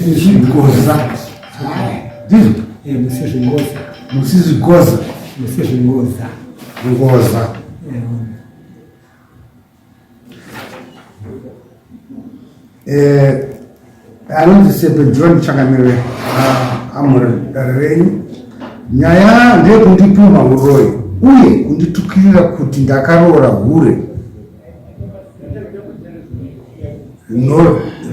Zvingoza. Ndizvo? Eh, musi zvingoza. Musi zvingoza. Musi zvingoza. Ngoza. Eh. Eh, anonzi Sebe John Changamire ah, amuri dare renyu. Nyaya ndeyekundipumha uroyi uye kunditukirira kuti ndakaroora hure.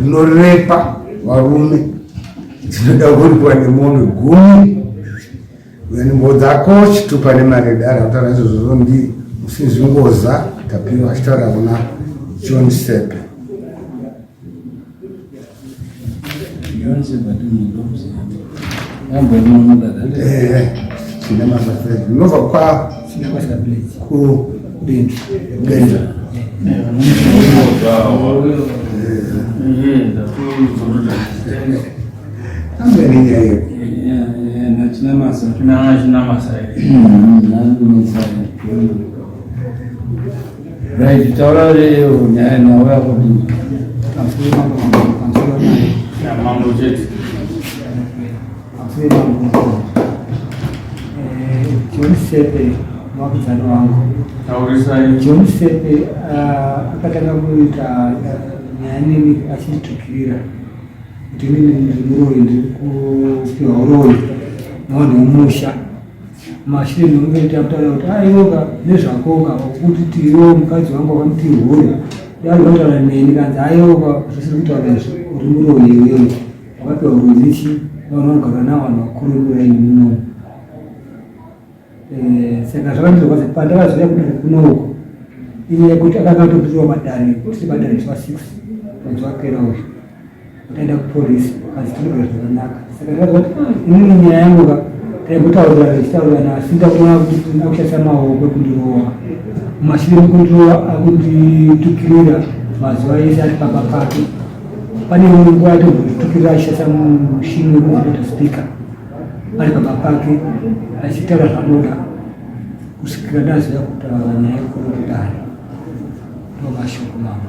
rinorepa varume dzinoda kuripwa nemombe gumi nembo dzako chitupa nemari yedare kutaura izvozvo ndi musinzi ngoza tapiwa achitaura kuna john sepe Namasa. Right, taura leo nyaya nawe yako ni. Afike mambo kansela naye. Ya mambo cheti. Afike mambo. Eh, John Sepe mwakuzana wangu. Taurisa yeye. John Sepe uh, akatanga kuita nyaya nini achitukirira. Kuti nini ndimuroi ndiri kupiwa uroi. Nawo ndimusha. Machine ungaita mtaala kuti aiwoka nezvakoka kuti tiwo mukadzi wangu akamti huya dai wataura neni kanzi aiwoka zvisiri kutaura izvo uri muroyi iwewe wakapiwa ruzichi vanhu vanogara navo vanhu vakuru murai munomu eh, saka zvakandirwadza pandakazoya kuti kunouko inyaya yekuti akanga atopiwa madare kuti madare zva six mwedzi wapera uyu Taenda kupolisi asi tinoda zvakanaka. Saka ndakazoti ah, inini nyaya yangu ka taimbotaurira tichitaurirana asi ndakuona kuti akushandisa maoko kundirova. Mashure mukundirova akunditukirira mazuva ese ari pamba pake. Pane imwe nguva yatombotukirira achishandisa mushini wekuita speaker ari pamba pake achitaura zvanoda kusvikira ndaziva kutaura nyaya yekuru kudare. Ndomashoko mama.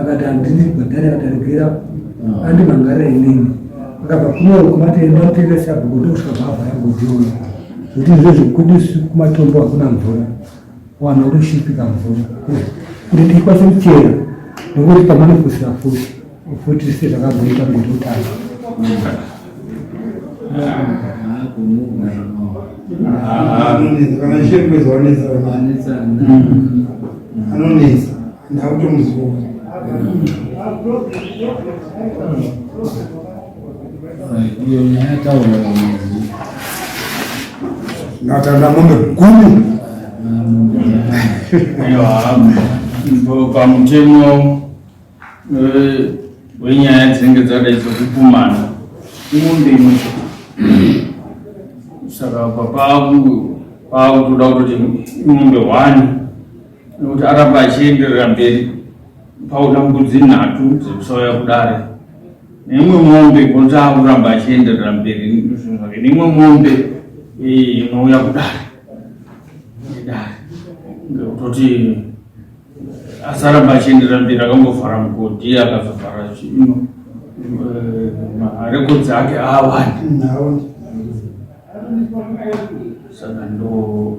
akati handini kubhadhara akati aregera ah. andimangara inini akabva kunoro kumatenda mutenda sabhuku ndokusvika bhavha yangotiona kuti izvo zvekudisu kumatombo hakuna mvura wana kutoshipika mvura kuti ndikwanise kuchera nekuti pamane fusira fusi futi se zvakazoita kuti utano anonetsa ndautomuzivona iyo nyaya taura natanda mombe gumi pamutemo eh, wenyaya dzinenge dzadai dzekukumana imombe imwe saka papakutoda kuti imombe hwani nokuti aramba achienderera mberi paona mbudzi nhatu dzekusauya kudare neimwe mombe gonzi akuramba achienderera mberi zvinhu zvake neimwe mombe inouya kudare dare ngekutoti asaramba achienderera mberi akambovhara mugodhi akazovhara chino eh, marekodzi ake aawani saka ndo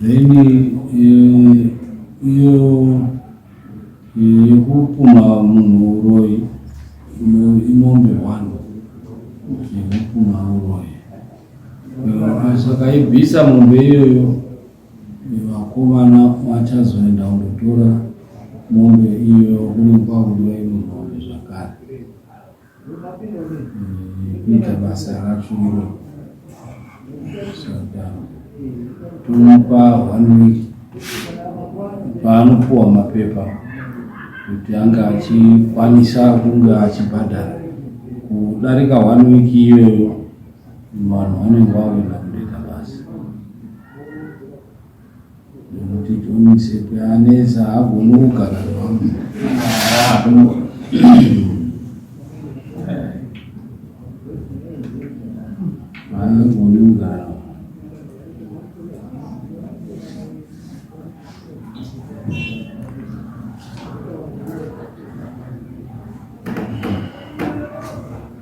then eh, iyo eh, yekupumha munhu uroyi inombe one yekupumha uroyi eh, sakaibvisa mombe iyoyo vakomana vachazoenda kundotora mombe iyo kunenge kwakudiwa imwe mombe zvakare kuita basa racho iro saka tomupa one week paanopuwa mapepa kuti anga achikwanisa kunge achibhadhara kudarika one week iyoyo vanhu vanenge vawina Ndomuti John Msepe anetsa haagoni kugara nevamwe. Haagoni kugara.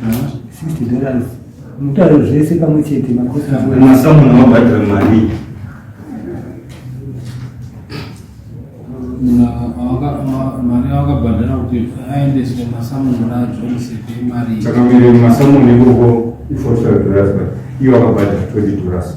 60 dollars mutare zvese pamwe chete masamuna mabhadhira mari mari avakabhadhara kuti aendeswe masamuna ajoniseke mari chakamire masamuna ikoko i45 dollars iwo akabhadhara 20 dollars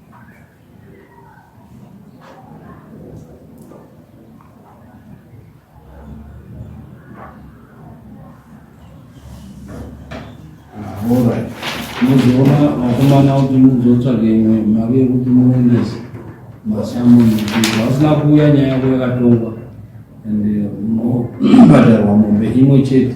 Alright. Muzoona vakomana kuti muzotsvage imwe mari yekuti muendese masamuni vasina kuuya nyaya yako yakatongwa and unobhadharwa mombe imwe chete